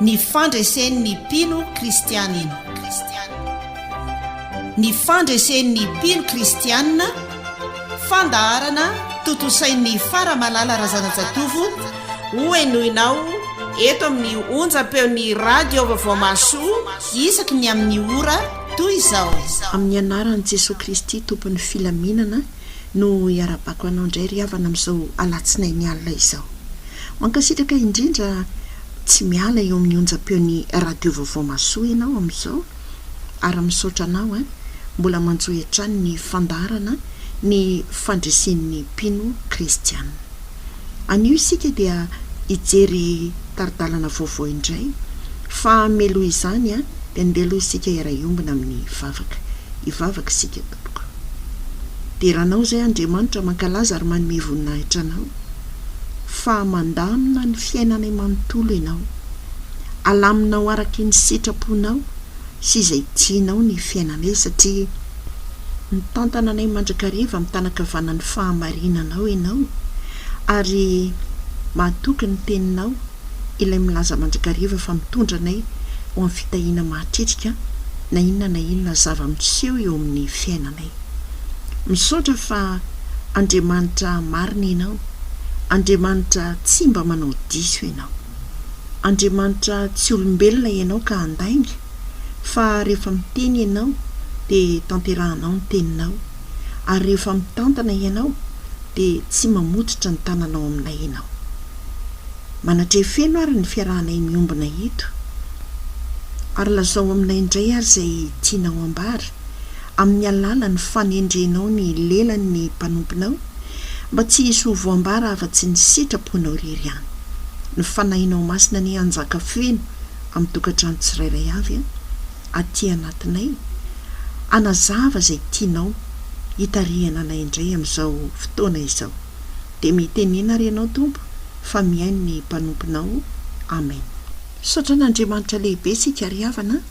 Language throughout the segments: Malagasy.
Ny fandresen'ny mpino kristianina. Ny fandresen'ny mpino kristianina, fandaharana tontosain'ny Faramalala Razanajatovo hohenoinao eto amin'ny onjam-peon'ny Radio Vaovao Mahasoa isaky ny amin'ny ora toy izao. Amin'ny anaran'i Jesoa Kristy Tompon'ny filaminana. no hiara-bako anao indray ry havana amin'izao alatsinainy alina izao. Mankasitraka indrindra tsy miala eo amin'ny onjam-peon'ny radio vaovao masoa ianao amin'izao ary misaotra anao an, mbola manjohy hatrany ny fandaharana ny fandresen'ny mpino kristiana. Anio isika dia hijery tari-dalana vaovao indray fa mialoha izany dia andeha aloha isika hiara-hiombona amin'ny vavaka. Hivavaka isika. Tompo deranao izay Andriamanitra mankalaza ary manome voninahitra anao fa mandamina ny fiainanay manontolo ianao alaminao araka ny sitraponao sy izay tianao ny fiainanay satria mitantana anay mandrakariva amin'ny tanakavanan'ny fahamarinanao ianao ary mahatoky ny teninao Ilay milaza mandrakariva fa mitondra anay ho amin'ny fitahiana mahatritrika na inona na inona zava-miseho eo amin'ny fiainanay. Misaotra fa Andriamanitra marina Ianao, Andriamanitra tsy mba manao diso Ianao. Andriamanitra tsy olombelona Ianao ka handainga, fa rehefa miteny Ianao dia tanterahanao ny teninao, ary rehefa mitantana Ianao dia tsy mamototra ny tananao aminay Ianao. Manatreha feno ary ny fiarahanay miombona eto. Ary lazao aminay indray ary izay tianao ambara, amin'ny alalan'ny fanendrenao ny lelan'ny mpanomponao, mba tsy hisy ho voambara afa-tsy ny sitraponao irery ihany. Ny Fanahinao Masina anie hanjaka feno amin'ny tokantrano tsirairay avy an! Aty anatinay, hanazava izay tianao hitarihana anay indray amin'izao fotoana izao. dia mitenena ary ianao Tompo fa mihaino ny mpanomponao Amen. Misaotra an'Andriamanitra lehibe isika ry havana a!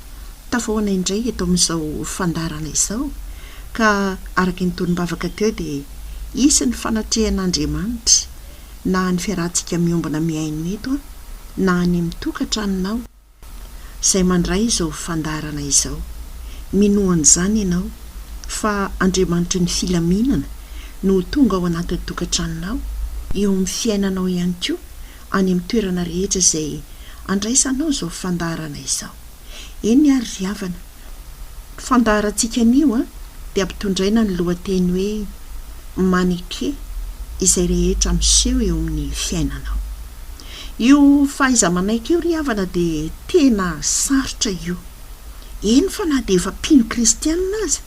Tafahoana indray eto amin'izao fandaharana izao ka araka ny tonom-bavaka teo dia hisy ny fanatrehan'Andriamanitra na any fiarahantsika miombona mihaino eto a! na any amin'ny tokatranonao, izay mandray izao fandaharana izao. Minoa an'izany ianao fa Andriamanitry ny filaminana no ho tonga ao anatin'ny tokantranonao, eo amin'ny fiainanao ihany koa, any amin'ny toerana rehetra izay andraisanao izao fandaharana izao. Eny ary ry havana, fandaharantsika anio dia ampitondraina ny lohateny hoe Maneke izay rehetra miseho eo amin'ny fiainanao. Io fahaiza-manaiky io ry havana dia tena sarotra io. Eny fa na dia efa mpino kristianina aza,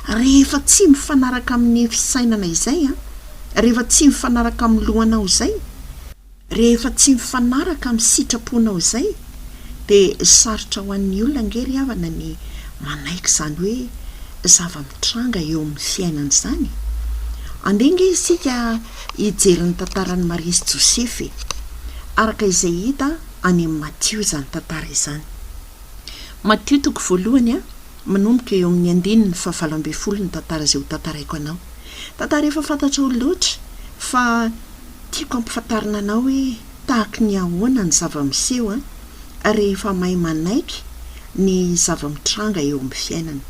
rehefa tsy mifanaraka amin'ny fisainana izay, rehefa tsy mifanaraka amin'ny lohanao izay, Rehefa tsy mifanaraka amin'ny sitraponao izay dia sarotra ho an'ny olona ange ry havana ny manaiky izany hoe zava-mitranga eo amin'ny fiainana izany e! Andeha ange isika hijery ny tantaran'i Maria sy Josefa e! Araka izay hita any amin'ny Matio izany tantara izany. Matio toko voalohany a, manomboka eo amin'ny andininy fahavalo ambin'ny folo ny tantara izay hotantaraiko anao. Tantara efa fantatrao loatra fa. Tiako ampifantarina anao hoe tahaky ny ahoana ny zava-miseho an, rehefa mahay manaiky ny zava-mitranga eo amin'ny fiainana.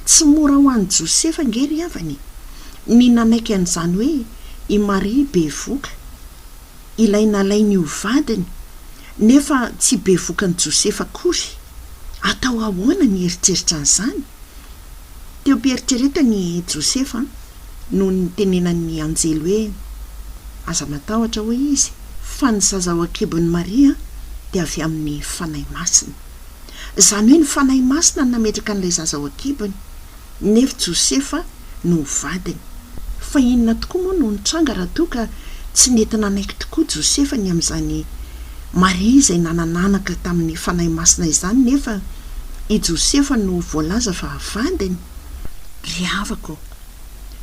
Tsy mora ho an'i Josefa ange ry havana e, ny nanaiky an'izany hoe i Maria bevoka, ilay nalainy ho vadiny, nefa tsy bevokan'i Josefa akory. Atao ahoana ny hieritreritra an'izany? Teo am-pieritreretany i Josefa nony nitenenan'ny anjely hoe, Aza matahotra, hoy izy, fa ny zaza ao an-kibon'i Maria dia avy amin'ny Fanahy Masina. Izany hoe ny Fanahy Masina no nametraka an'ilay zaza ao an-kibony, nefa Josefa no ho vadiny. Fa inona tokoa moa no nitranga raha toa ka tsy nety nanaiky tokoa Josefa ny amin'izany Maria izay nanana anaka tamin'ny Fanahy Masina izany nefa i Josefa no voalaza fa vadiny? Ry havako ô!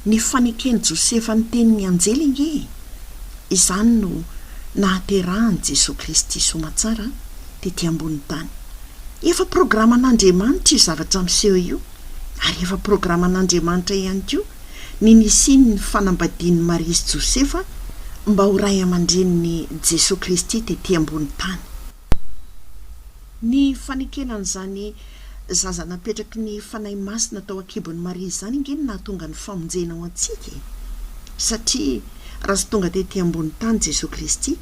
Ny faneken'i Josefa ny tenin'ny anjely ange e! Izany no nahaterahan'i Jesoa Kristy soamantsara tety ambonin'ny tany. Efa programan'Andriamanitra io zavatra miseho io, ary efa programan'Andriamanitra ihany koa ny nisian'ny fanambadian'i Maria sy Josefa mba ho ray aman-drenin'i Jesoa Kristy tety ambonin'ny tany. Ny fanekena an'izany Zaza napetraky ny Fanahy Masina tao an-kibon'i Maria izany ange no nahatonga ny famonjena ho antsika e! Satria raha tsy tonga tety ambony tany Jesoa Kristy,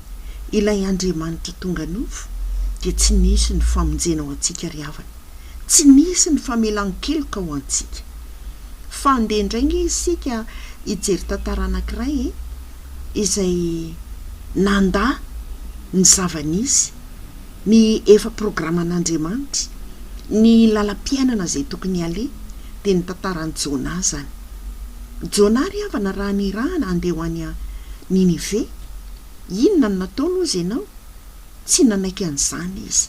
ilay Andriamanitra tonga nofo, dia tsy nisy ny famonjena ho antsika ry havana, tsy nisy ny famelan-keloka ho antsika. Fa andeha indray ange isika hijery tantara anankiray e! izay nandà ny zava-nisy, ny efa programan'Andriamanitra, ny lalam-piainana izay tokony haleha, dia ny tantaran'i Jonah izany. Jonah ry havana raha nirahana handeha ho any Ninive, inona no nataony hozy ianao? Tsy nanaiky an'izany izy.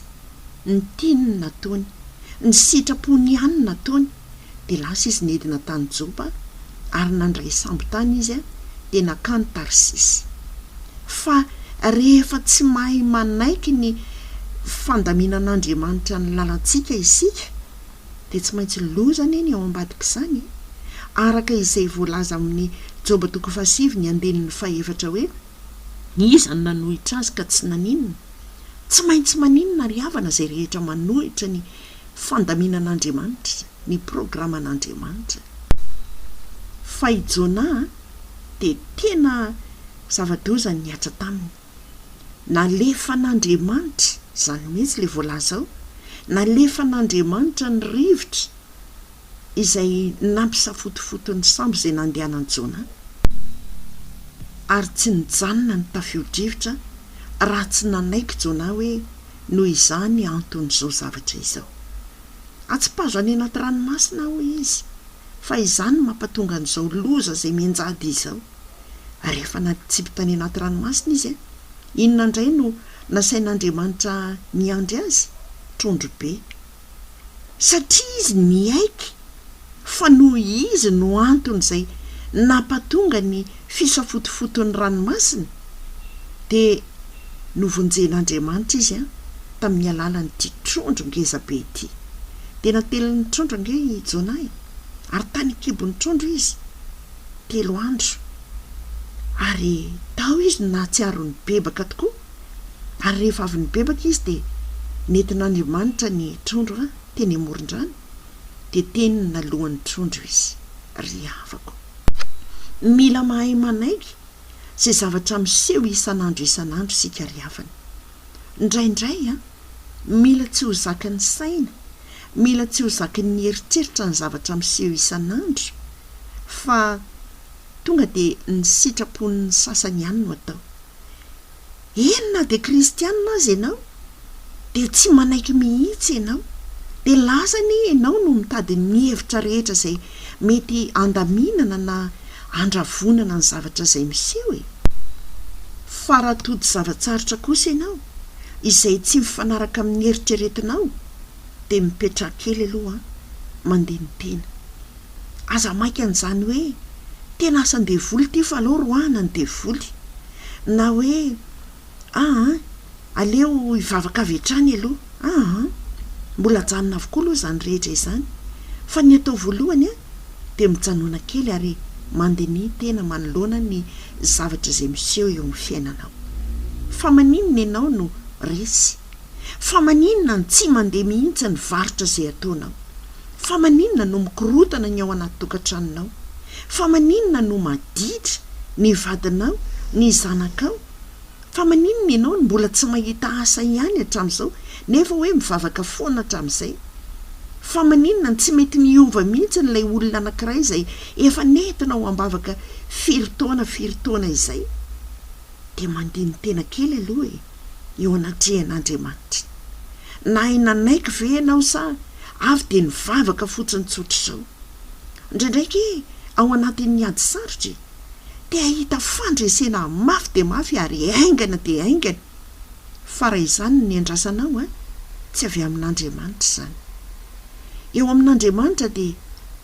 Ny tiany no nataony. Ny sitrapony ihany no nataony. Dia lasa izy nidina tany Jopa, ary nandray sambo tany izy, dia nankany Tarsisy. Fa rehefa tsy mahay manaiky ny fandaminan'Andriamanitra ny lalantsika isika, dia tsy maintsy loza anie ny ao ambadik'izany e! Araka izay voalaza amin'ny Joba toko fahasivy ny andininy fahefatra hoe. Iza no nanohitra azy ka tsy naninona? Tsy maintsy maninona ry havana izay rehetra manohitra ny fandaminan'Andriamanitra, ny programan'Andriamanitra. Fa i Jona dia tena zava-doza ny nihatra taminy. Nalefan'Andriamanitra, izany mihitsy ilay voalaza ao, nalefan'Andriamanitra ny rivotra. izay nampisafotofoto ny sambo izay nandehanan'i Jona, ary tsy nijanona ny tafio-drivotra raha tsy nanaiky Jona hoe noho izany anton'izao zavatra izao. Atsipazo any anaty ranomasina aho, hoy izy, fa izany no mampatonga an'izao loza izay mianjady izao. Ary efa natsipy tany anaty ranomasina izy. Inona indray no nasain'Andriamanitra niandry azy? Trondro be. satria izy niaiky fa noho izy no antony izay nampatonga ny fisafotofoton'ny ranomasina, dia novonjen'Andriamanitra izy an, tamin'ny alalan'ity trondro ngeza be ity. Dia natelin'ny trondro ange i Jonah e! Ary tany an-kibon'ny trondro izy telo andro, ary tao izy no nahatsiaro nibebaka tokoa. Ary rehefa avy nibebaka izy dia nentin'Andriamanitra ny trondro a, teny amoron-drano, dia teny naloan'ny trondro izy. Ry havako. Mila mahay manaiky izay zavatra miseho isan'andro isan'andro isika ry havana. Ndraindray a, mila tsy ho zakan'ny saina, mila tsy ho zakin'ny eritreritra ny zavatra miseho isan'andro, fa. Tonga dia ny sitrapon'ny sasany ihany no atao. Eny na dia kristianina aza ianao dia tsy manaiky mihitsy ianao. Dia lasa anie ianao no mitady ny hevitra rehetra izay mety handaminana na handravonana ny zavatra izay miseho e. Fa raha tody zava-tsarotra kosa ianao izay tsy mifanaraka amin'ny eritreretinao dia mipetraha kely aloha an, mandini-tena. Aza maika an'izany hoe tena asan-devoly ity fa aleo roahina ny devoly. Na hoe aa, aleo hivavaka avy hatrany aloha. Aa, mbola ajanona avokoa aloha izany rehetra izany. Fa ny atao voalohany dia mijanona kely ary mandiniha tena manoloana ny zavatra izay miseho eo amin'ny fiainanao. Fa maninona ianao no resy? Fa maninona no tsy mandeha mihitsy ny varotra izay ataonao? Fa maninona no mikorotana ny ao anaty tokantranonao? Fa maninona no maditra ny vadinao, ny zanakao? Fa maninona ianao no mbola tsy mahita asa ihany hatramin'izao, nefa hoe mivavaka foana hatramin'izay? Fa maninona no tsy mety miova mihitsy ilay olona anankiray izay efa nentinao ambavaka firy taona firy taona izay? Dia mandini-tena kely aloha e! eo anatrehan'Andriamanitra. Nahay nanaiky ve ianao sa avy dia nivavaka fotsiny tsotra izao? Ndraindraiky ao anatin'ny ady sarotra e, te hahita fandresena mafy dia mafy ary haingana dia haingana. Fa raha izany no niandrasanao an, tsy avy amin'Andriamanitra izany. Eo amin'Andriamanitra dia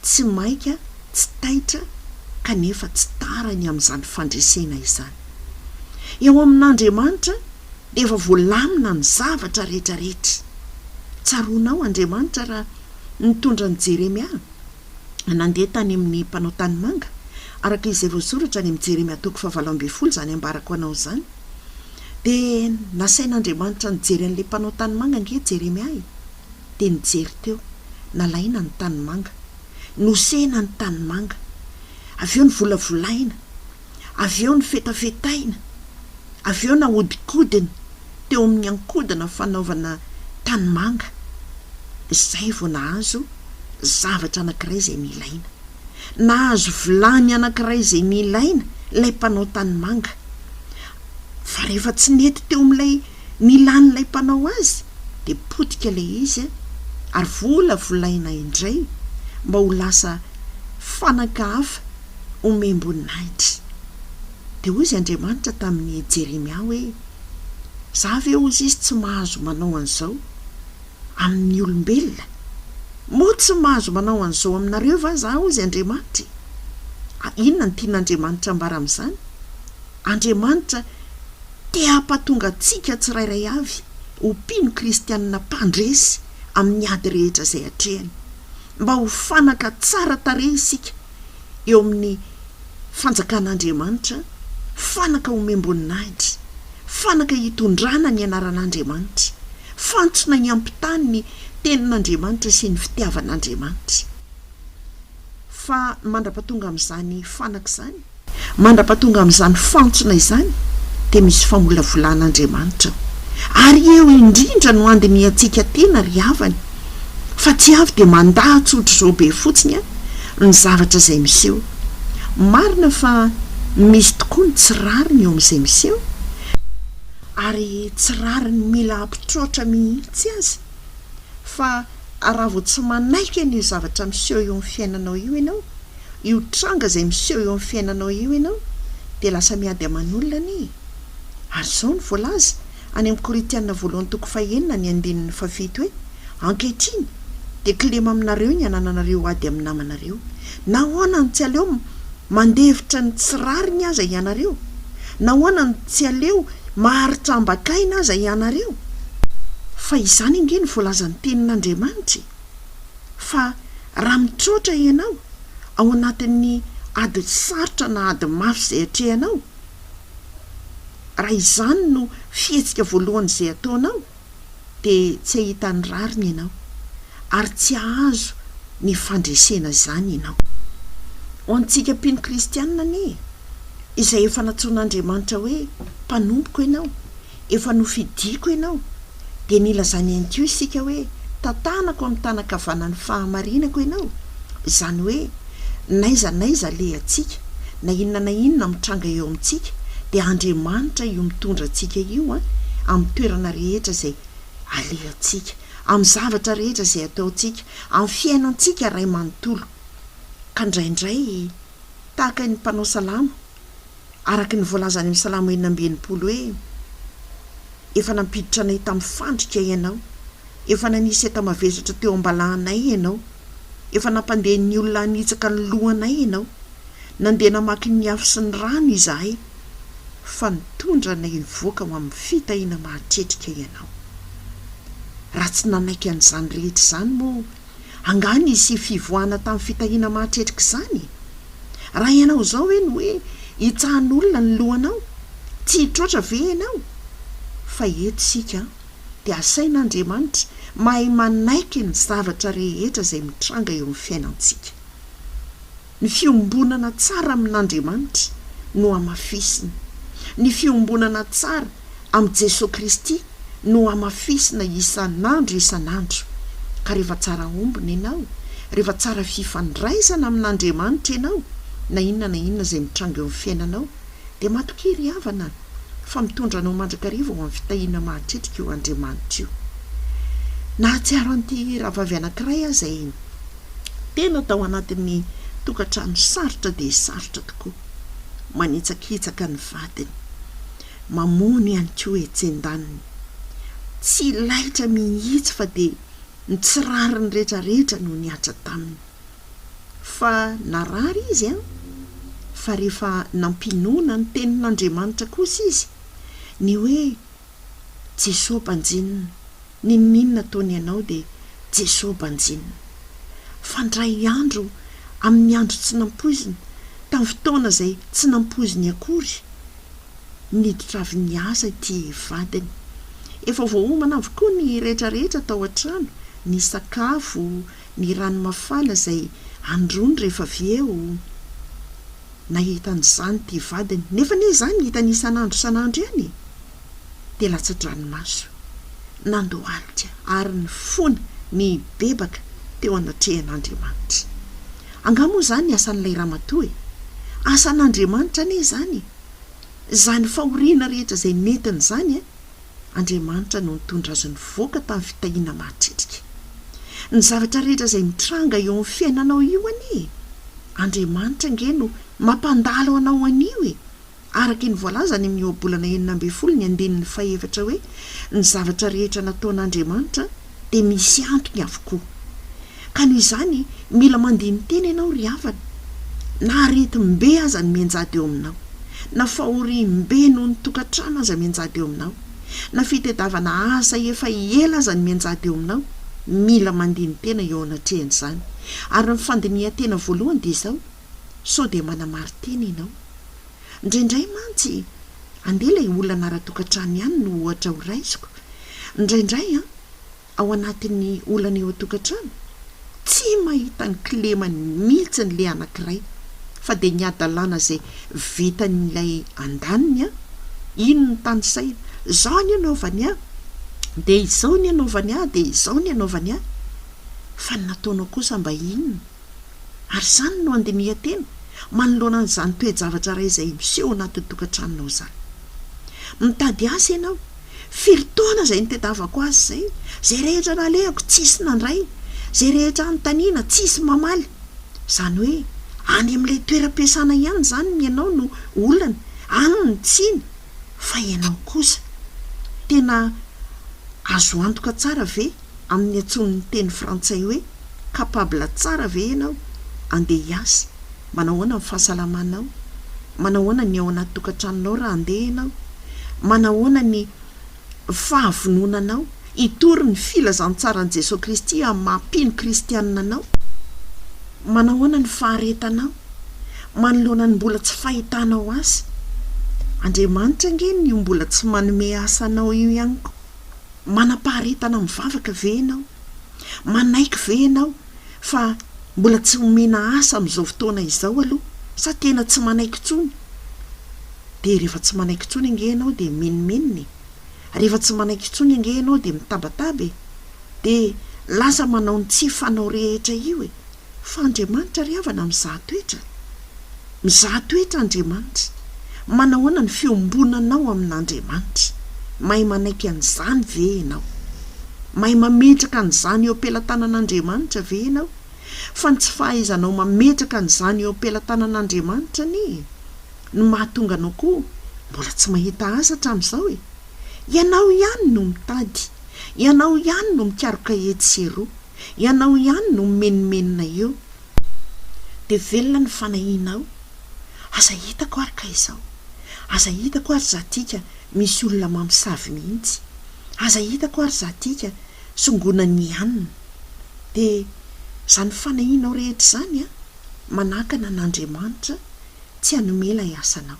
tsy maika, tsy taitra kanefa tsy tara ny amin'izany fandresena izany. Eo amin'Andriamanitra dia efa voalamina ny zavatra rehetrarehetra. Tsaroanao Andriamanitra raha nitondra an'i Jeremia nandeha tany amin'ny mpanao tanimanga, araka izay voasoratra any amin'ny Jeremia toko fahavalo ambin'ny folo izany ambarako anao izany. Dia nasain'Andriamanitra nijery an'ilay mpanao tanimanga ange Jeremia e! Dia nijery teo, nalaina ny tanimanga, nosehina ny tanimanga, avy eo novolavolaina, avy eo nofetafetaina, avy eo nahodinkodina teo amin'ny ankodina fanaovana tanimanga, izay vao nahazo zavatra anankiray izay nilaina. Nahazo vilany anankiray izay nilaina ilay mpanao tanimanga, fa rehefa tsy nety teo amin'ilay nilan'ilay mpanao azy, dia potika ilay izy ary volavolaina indray mba ho lasa fanaka hafa, omem-boninahitra. Dia hoy izy Andriamanitra tamin'i Jeremia hoe, Za ve hozy izy tsy mahazo manao an'izao amin'ny olombelona? Moa tsy mahazo manao an'izao aminareo va za hozy Andriamanitra e? A Inona no tian'Andriamanitra ambara amin'izany? Andriamanitra te hampatonga antsika tsirairay avy ho mpino kristianina mpandresy amin'ny ady rehetra izay atrehany, mba ho fanaka tsara tarehy isika eo amin'ny Fanjakan'Andriamanitra, fanaka omem-boninahitra, fanaka hitondrana ny anaran'Andriamanitra, fantsona hiampitany ny Tenin'Andriamanitra sy ny fitiavan'Andriamanitra. Fa mandra-pahatonga amin'izany fanaka izany, mandra-pahatonga amin'izany fantsona izany, dia misy famolavolan'Andriamanitra ao. Ary eo indrindra no handinihantsika tena ry havana, fa tsy avy dia mandà tsotr'izao be fotsiny an, ny zavatra izay miseho. Marina fa misy tokoa ny tsy rariny eo amin'izay miseho, ary tsy rariny mila ampitroatra mihitsy aza, fa raha vao tsy manaiky an'io zavatra miseho eo amin'ny fiainanao io ianao, io tranga izay miseho eo amin'ny fiainanao io ianao, dia lasa miady aman'olona anie e! Ary izao no voalaza, Any amin'ny Korintiana voalohany toko fahenina ny andininy fahafito hoe, Ankehitriny dia kilema aminareo ny anananareo ady amin'ny namanareo. Nahoana no tsy aleo mandefitra ny tsy rariny aza ianareo? Nahoana no tsy aleo maharitra ambakaina aza ianareo? Fa izany ange no voalazan'ny Tenin'Andriamanitra e! Fa raha mitroatra ianao ao anatin'ny ady sarotra na ady mafy izay atrehanao, Raha izany no fihetsika voalohany izay ataonao, dia tsy hahita ny rariny ianao, ary tsy hahazo ny fandresena izany ianao. Ho antsika mpino kristianina anie, izay efa nantsoin'Andriamanitra hoe mpanompoko ianao, efa nofidiako ianao, dia nilazany ihany koa isika hoe, Tantanako amin'ny tanan-kavanan'ny fahamarinako ianao, izany hoe, n'aiza n'aiza alehantsika, na inona na inona mitranga eo amintsika, dia Andriamanitra io mitondra antsika io amin'ny toerana rehetra izay alehantsika, amin'ny zavatra rehetra izay ataontsika, amin'ny fiainantsika iray manontolo. Ka indraindray, tahaka ny mpanao salamo, araka ny voalazan'i Amy Salamo enina amby enimpolo hoe, Efa nampiditra anay tamin'ny fandrika Ianao, efa nanisy enta-mavesatra teo am-balahanay Ianao, efa nampandeha ny olona hanitsaka ny lohanay Ianao, nandeha namaky ny afo sy ny rano izahay, fa nitondra anay nivoaka ho amin'ny fitahiana mahatretrika Ianao. Raha tsy nanaiky an'izany rehetra izany moa Angaha nisy fivoahana tamin'ny fitahiana mahatretrika izany? Raha ianao izao ve no hoe hitsahan'olona ny lohanao? Tsy hitroatra ve ianao? Fa eto isika dia asain'Andriamanitra mahay manaiky ny zavatra rehetra izay mitranga eo amin'ny fiainantsika. Ny fiombonana tsara amin'Andriamanitra no hamafisina. Ny fiombonana tsara amin'i Jesoa Kristy no hamafisina isan'andro isan'andro. Ka rehefa tsara ombina ianao, rehefa tsara fifandraisana amin'Andriamanitra ianao, na inona na inona izay mitranga eo amin'ny fiainanao, dia matokia ry havana fa mitondra anao mandrakariva ho amin'ny fitahiana mahatretrika io Andriamanitra io. Nahatsiaro an'ity rahavavy anankiray aho izay tena tao anatin'ny tokantrano sarotra dia sarotra tokoa. Manitsakitsaka ny vadiny. Mamono ihany koa etsy an-daniny. Tsy laitra mihitsy fa dia ny tsy rariny rehetrarehetra no nihatra taminy. Fa narary izy an! Fa rehefa nampinoana ny tenin'Andriamanitra kosa izy, ny hoe, Jesoa banjinina, n'inon'inona ataony ianao dia Jesoa banjinina. Fa ndray andro amin'ny andro tsy nampoizina, tamin'ny fotoana izay tsy nampoiziny akory, niditra avy niasa ity vadiny. Efa voaomana avokoa ny rehetrarehetra tao an-trano, ny sakafo, ny rano mafana izay androany rehefa avy eo nahita an'izany ity vadiny, nefa anie izany hitany isan'andro isan'andro ihany e! dia latsa-dranomaso, nandohalika ary nifona nibebaka teo anatrehan'Andriamanitra. Angaha moa izany asan'ilay ramatoa e? Asan'Andriamanitra anie izany e! Izany fahoriana rehetra izay nentiny izany Andriamanitra no nitondra azy nivoaka tamin'ny fitahiana mahatretrika. Ny zavatra rehetra izay mitranga eo amin'ny fiainanao io anie e! Andriamanitra ange no mampandalo anao an'io e! Araka ny voalazany amin'ny Ohabolana enina ambin'ny folo ny andininy fahefatra hoe, Ny zavatra rehetra nataon'Andriamanitra dia misy antony avokoa. Ka noho izany, mila mandini-tena ianao ry havana. Na aretim-be aza no mianjady eo aminao, na fahoriam-be noho ny tokantrano aza mianjady eo aminao, na fitadiavana asa efa ela aza no mianjady eo aminao, mila mandini-tena eo anatrehan'izany. Ary ny fandinihan-tena voalohany dia izao, sao dia manamari-tena ianao. Indraindray mantsy, andeha ilay olana ara-tokantrano ihany no ohatra horaisiko, indraindray an, ao anatin'ny olana eo an-tokantrano, tsy mahita ny kilemany mihitsy ilay anankiray, fa dia ny hadalana izay vitan'ilay andaniny an, iny no tanisahina, izao anie anaovany ahy, dia izao ny anaovany ahy, dia izao ny anaovany ahy. Fa ny nataonao kosa mba inona? Ary izany no handinihan-tena manoloana an'izany toe-javatra iray izay miseho ao anatin'ny tokantranonao izany. Mitady asa ianao. Firy taona izay nitadiavako asa izay? Izay rehetra nalehako, tsisy nandray. Izay rehetra anontaniana, tsisy mamaly. Izany hoe, any amin'ilay toeram-piasana ihany izany ny ianao no olana, any ny tsiny, fa ianao kosa. Tena azo antoka tsara ve? amin'ny antson'ny teny frantsay hoe capable tsara ve ianao? Andeha hiasa? Manahoana ny fahasalamanao? Manahoana ny ao anaty tokantranonao raha andeha ianao? Manahoana ny fahavononanao hitory ny filazantsaran'i Jesoa Kristy amin'ny maha-mpino kristianina anao? Manahoana ny faharetanao manoloana ny mbola tsy fahitanao asa? Andriamanitra ange no mbola tsy manome asa anao io ihany koa. Manam-paharetana mivavaka ve ianao? Manaiky ve ianao fa mbola tsy omena asa amin'izao fotoana izao aloha sa tena tsy manaiky intsony? Dia rehefa tsy manaiky intsony ange ianao dia minominona e! Rehefa tsy manaiky intsony ange ianao dia mitabataba e! Dia lasa manao ny tsy fanao rehetra io e! Fa Andriamanitra ry havana mizaha toetra. Mizaha toetra Andriamanitra. Manahoana ny fiombonanao amin'Andriamanitra? Mahay manaiky an'izany ve ianao? Mahay mametraka an'izany eo am-pelatanan'Andriamanitra ve ianao? Fa ny tsy fahaizanao mametraka an'izany eo am-pelatanan'Andriamanitra anie no mahatonga anao koa mbola tsy mahita Azy hatramin'izao e! Ianao ihany no mitady. Ianao ihany no mikaroka etsy sy eroa. Ianao ihany no mimenomenona eo Dia velona ny fanahianao Aza hitako ary ka izao Aza hitako ary za tika Misy olona mamosavy mihitsy Aza hitako ary za tika Songonan'ny hanina Dia zany fanahianao rehetra izany a Manakana an'Andriamanitra Tsy hanome ilay asanao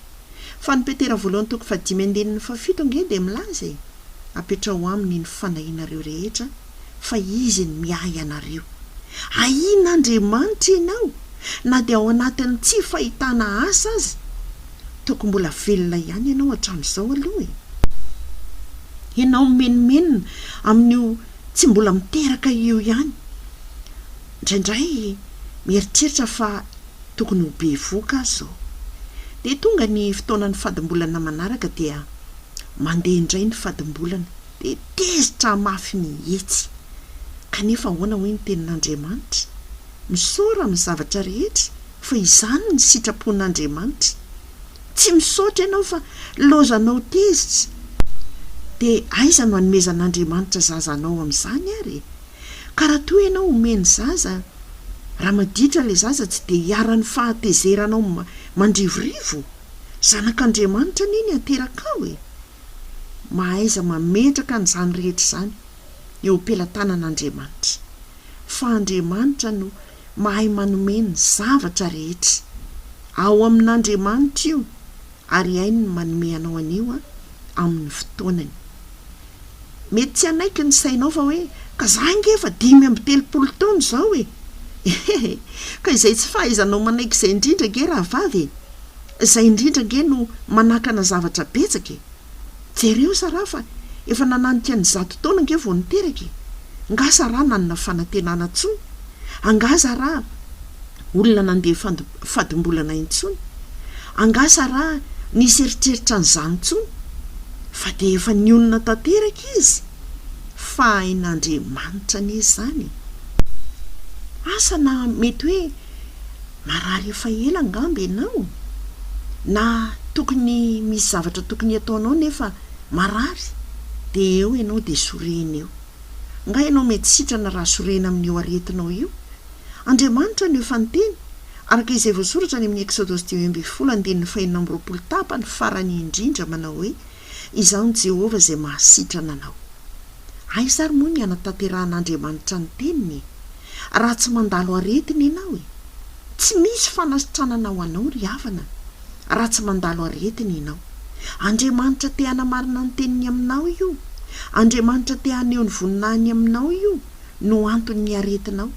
Fa ny Petera voalohany toko fahadimy andininy fahafito ange dia milaza e Apetraho aminy ny fanahianareo rehetra fa Izy ny miahy anareo. Ahiana Andriamanitra ianao na dia ao anatin'ny tsy fahitana asa aza. Tokony mbola velona ihany ianao hatramin'izao aloha e. Ianao mimenomenona amin'io tsy mbola miteraka io ihany. Indraindray mieritreritra fa tokony ho bevoka aho izao. Dia tonga ny fotoanan'ny fadimbolana manaraka dia mandeha indray ny fadimbolana. dia tezitra mafy mihitsy. Kanefa ahoana hoy ny Tenin'Andriamanitra? Misaora amin'ny zavatra rehetra, fa izany ny sitrapon'Andriamanitra. Tsy misaotra ianao fa laozanao tezitra. Dia aiza no anomezan'Andriamanitra zaza anao amin'izany ary e? Ka raha toa ianao omeny zaza, raha maditra ilay zaza tsy dia iharan'ny fahatezeranao mandrivorivo? Zanak'Andriamanitra anie ny aterakao e! mahaiza mametraka an'izany rehetra izany eo am-pelatanan'Andriamanitra, fa Andriamanitra no mahay manome ny zavatra rehetra. Ao amin'Andriamanitra io, ary hainy ny manome anao an'io amin'ny fotoanany. Mety tsy hanaiky ny sainao fa hoe, Ka izaho ange efa dimy amby telopolo taona izao e! Ka izay tsy fahaizanao manaiky izay indrindra ange rahavavy e! Izay indrindra ange no manakana zavatra betsaka e! Jereo sa raha fa efa nananika ny zato taona ange vao niteraka e! Ngah sa raha nanana fanantenana tsony? Angah za raha olona nandeha fady fadim-bolana intsony? Angah sa raha nisy eritreritra an'izany tsony? Fa dia efa nionona tanteraka izy! Fahain'Andriamanitra anie izany e! Asa na mety hoe Marary efa ela angamba ianao? Na tokony misy zavatra tokony hataonao nefa marary dia eo ianao dia sorena eo. Nga ianao mety sitrana raha sorena amin'io aretinao io? Andriamanitra no efa niteny, araka izay voasoratra any amin'ny Eksodos dimy ambin'ny folo andininy fahenina amby roapolo tapany farany indrindra manao hoe, Izaho ny Jehovah izay mahasitrana anao. Aiza ary moa ny hanatanterahan'Andriamanitra ny teniny e? Raha tsy mandalo aretina ianao e! Tsy misy fanasitranana ho anao ry havana, raha tsy mandalo aretina ianao. Andriamanitra te hanamarina ny teniny aminao io. Andriamanitra te haneho ny voninahiny aminao io no anton'ny aretinao.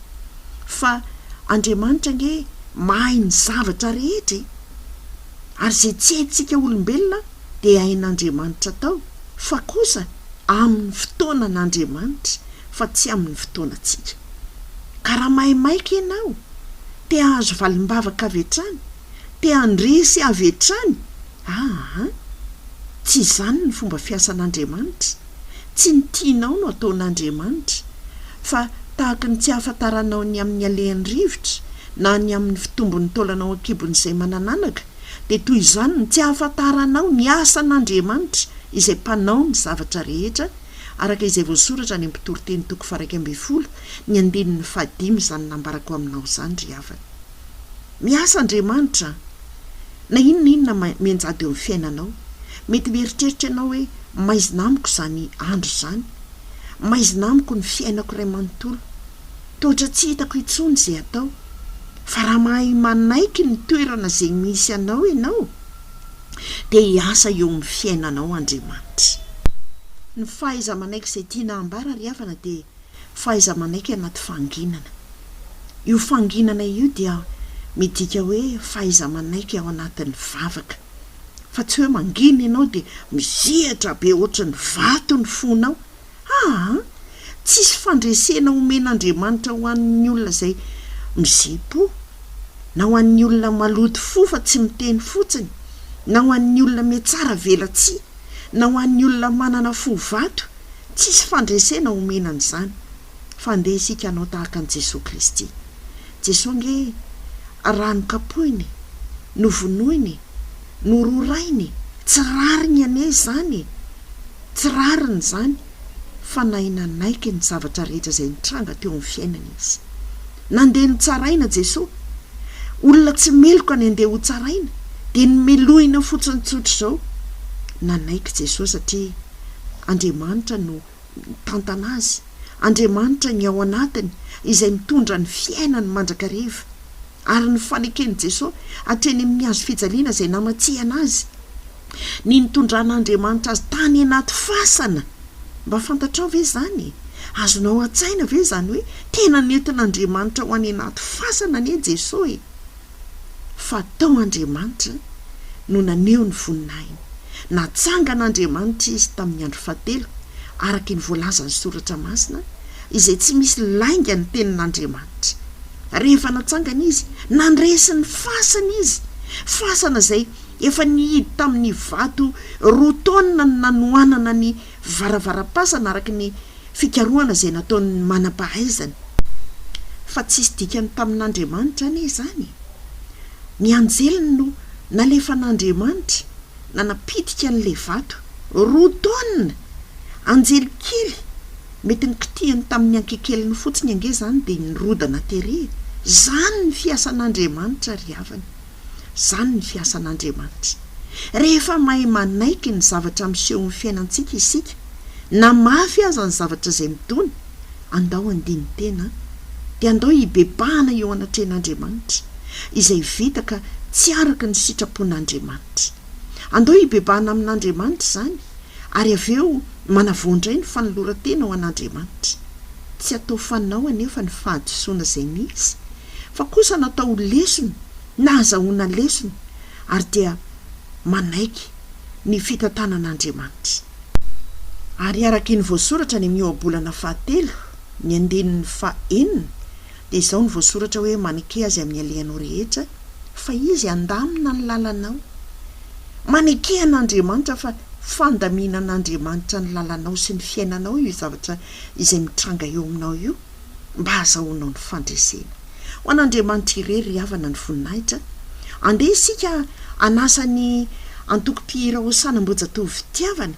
Fa Andriamanitra ange mahay ny zavatra rehetra e! Ary izay tsy haintsika olombelona dia hain'Andriamanitra tao, fa kosa amin'ny fotoanan'Andriamanitra, fa tsy amin'ny fotoanantsika. Ka raha mahay maika ianao, te hahazo valim-bavaka avy hatrany, te handresy avy hatrany, aa! Tsy izany ny fomba fiasan'Andriamanitra, tsy ny tianao no ataon'Andriamanitra, fa tahaka ny tsy ahafantaranao ny amin'ny alehan'ny rivotra, na ny amin'ny fitombon'ny taolanao an-kibon'izay manan'anaka, dia toy izany ny tsy hahafantaranao ny asan'Andriamanitra izay mpanao ny zavatra rehetra, araka izay voasoratra any amin'ny Mpitoriteny toko faharaika ambin'ny folo ny andininy fahadimy izany nambarako aminao izany ry havana. Miasa Andriamanitra an! Na inona na inona mianjady eo amin'ny fiainanao, mety mieritreritra ianao hoe maizina amiko izany andro izany, maizina amiko ny fiainako iray manontolo, Toetra tsy hitako intsony izay atao, fa raha mahay manaiky ny toerana izay misy anao ianao, dia hiasa eo amin'ny fiainanao Andriamanitra. Ny fahaiza-manaiky izay tiana hambara ry havana dia fahaiza-manaiky anaty fanginana. Io fanginana io dia midika hoe fahaiza-manaiky ao anatin'ny vavaka. Fa tsy hoe mangina ianao dia misehatra be ohatry ny vato ny fonao, Aa! Tsisy fandresena omen'Andriamanitra ho an'ny olona izay mize-po, na ho an'ny olona maloto fo fa tsy miteny fotsiny, na ho an'ny olona mihatsara velatsihy, na ho an'ny olona manana fo vato, tsisy fandresena omena an'izany. Fa andeha isika hanao tahaka an'i Jesoa Kristy. Jesoa ange raha nokapohiny, novonoiny, nororainy e! Tsy rariny anie izany e! Tsy rariny izany fa nahay nanaiky ny zavatra rehetra izay nitranga teo amin'ny fiainany izy. Nandeha notsaraina Jesoa. Olona tsy meloka ny handeha hotsaraina, dia nomelohina fotsiny tsotra izao. Nanaiky Jesoa satria Andriamanitra no mitantana azy, Andriamanitra ny ao anatiny izay mitondra ny fiainany mandrakariva. ary ny faneken'i Jesosy hatreny amin'ny hazo fijaliana izay namatsihana azy, ny nitondran'Andriamanitra azy tany anaty fasana. Mba fantatrao ve izany? Azonao an-tsaina ve izany hoe tena nentin'Andriamanitra ho any anaty fasana anie Jesosy? Fa tao Andriamanitra no naneho ny voninahiny. Natsangana Andriamanitra izy tamin'ny andro fahatelo, araka ny voalazan'ny Soratra Masina, izay tsy misy lainga ny tenin'Andriamanitra. Rehefa natsangana izy, nandresy ny fasana izy, fasana izay efa nihidy tamin'ny vato roa taonina ny nanohanana ny varavaram-pasana araka ny fikarohana izay nataon'ny manam-pahaizana. Fa tsisy dikany tamin'Andriamanitra anie izany e! Ny anjeliny no nalefan'Andriamanitra nanapitika an'ilay vato roa taonina, anjely kely Mety nikitihany tamin'ny ankekeliny fotsiny ange izany dia nirodana tery e! Izany ny fiasan'Andriamanitra ry havana. Izany ny fiasan'Andriamanitra. Rehefa mahay manaiky ny zavatra misehon'ny fiainantsika isika, na mafy aza ny zavatra izay midona, andao handini-tena, dia andao hibebahana eo anatrehan'Andriamanitra, izay vita ka tsy araka ny sitrapon'Andriamanitra. Andao hibebahana amin'Andriamanitra izany, Ary avy eo manavao indray ny fanoloran-tena ho an'Andriamanitra. Tsy atao fanao anefa ny fahadisoana izay misy, fa kosa natao ho lesona na azahoana lesona, ary dia manaiky ny fitantanan'Andriamanitra. Ary araka ny voasoratra any amin'ny Ohabolana fahatelo, ny andininy fahenina, dia izao no voasoratra hoe maneke azy amin'ny alehanao rehetra fa izy handamina ny lalanao. Maneke an'Andriamanitra fa fandaminan'Andriamanitra ny lalanao sy ny fiainanao io zavatra izay mitranga eo aminao io mba hazahoanao ny fandresena. Ho an'Andriamanitra irery ry havana ny voninahitra. Andeha isika hanasa ny antokom-pihira Hosana Ambohijatovo fitiavana.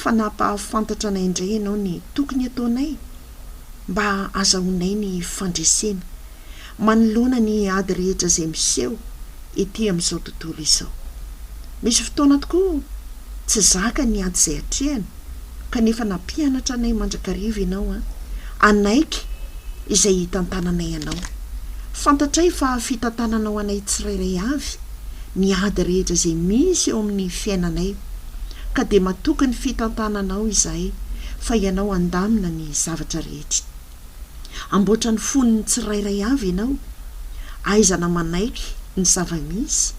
fa nampahafantatra anay indray ianao ny tokony ataonay mba azahoanay ny fandresena manoloana ny ady rehetra izay miseho ety amin'izao tontolo izao. Misy fotoana tokoa tsy zaka ny ady izay atrehana, kanefa nampianatra anay mandrakariva ianao an, hanaiky izay hitantananay anao. Fantatray fa fitantananao anay tsirairay avy ny ady rehetra izay misy eo amin'ny fiainanay. ka dia matoky ny fitantananao izahay fa ianao handamina ny zavatra rehetra. Amboatra ny fon'ny tsirairay avy ianao, aizana manaiky ny zava-misy,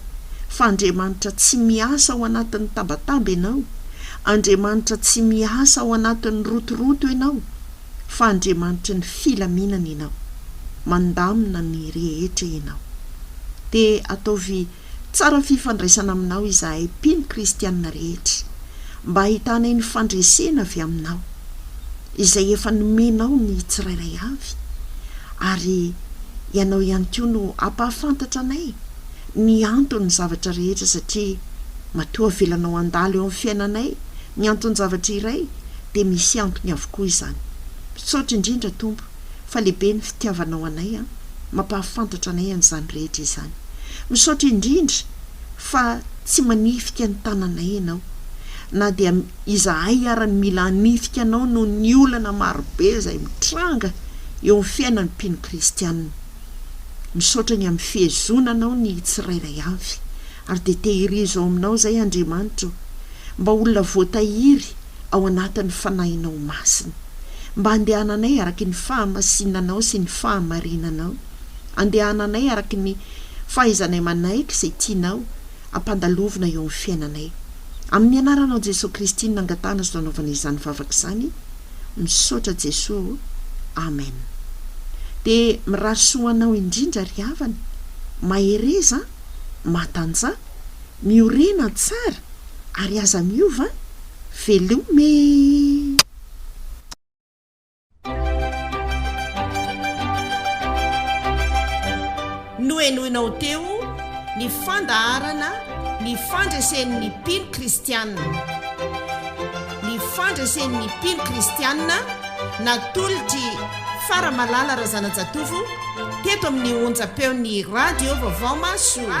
fa Andriamanitra tsy miasa ao anatin'ny tabataba ianao, Andriamanitra tsy miasa ao anatin'ny rotoroto ianao, fa Andriamanitry ny filaminana ianao. Mandamina ny rehetra ianao. Dia ataovy Tsara fifandraisana aminao izahay mpino kristiana rehetra, mba hahitanay ny fandresena avy aminao, izay efa nomenao ny tsirairay avy, ary Ianao ihany koa no hampahafantatra anay ny anton'ny zavatra rehetra, satria matoa avelanao handalo eo amin'ny fiainanay ny anton-javatra iray, dia misy antony avokoa izany. Misaotra indrindra, Tompo. fa lehibe ny fitiavanao anay an! Mampahafantatra anay an'izany rehetra izany. Misaotra indrindra fa tsy manifika ny tananay ianao, na dia izahay ara ny mila hanifika anao noho ny olana marobe izay mitranga eo amin'ny fiainan'ny mpino kristianina. Misaotra ny amin'ny fihezonanao ny tsirairay avy Ary dia tehirizo ao aminao izay, Andriamanitra ô, mba olona voatahiry ao anatin'ny Fanahinao Masina, mba andehananay araky ny fahamasinanao sy ny fahamarinanao, andehananay araky ny fahaizanay manaiky izay tianao ampandalovina eo amin'ny fiainanay. Amin'ny Anaranao Jesoa Kristy no nangatahana sy nanaovana izany vavaka izany, misaotra Jesoa ô, Amen. Dia mirary soa ho anao indrindra ry havana, mahereza an! Matanja, Miorina tsara ary aza miova an! Velom e! Nohenoinao teo ny fandaharana Ny Fandresen'ny Mpino Kristianina. Ny Fandresen'ny Mpino Kristianina natolotr'i. Fa Ramalala Razanajatovo teto amin'ny onjam-peon'ny Radio Vaovao Mahasoa.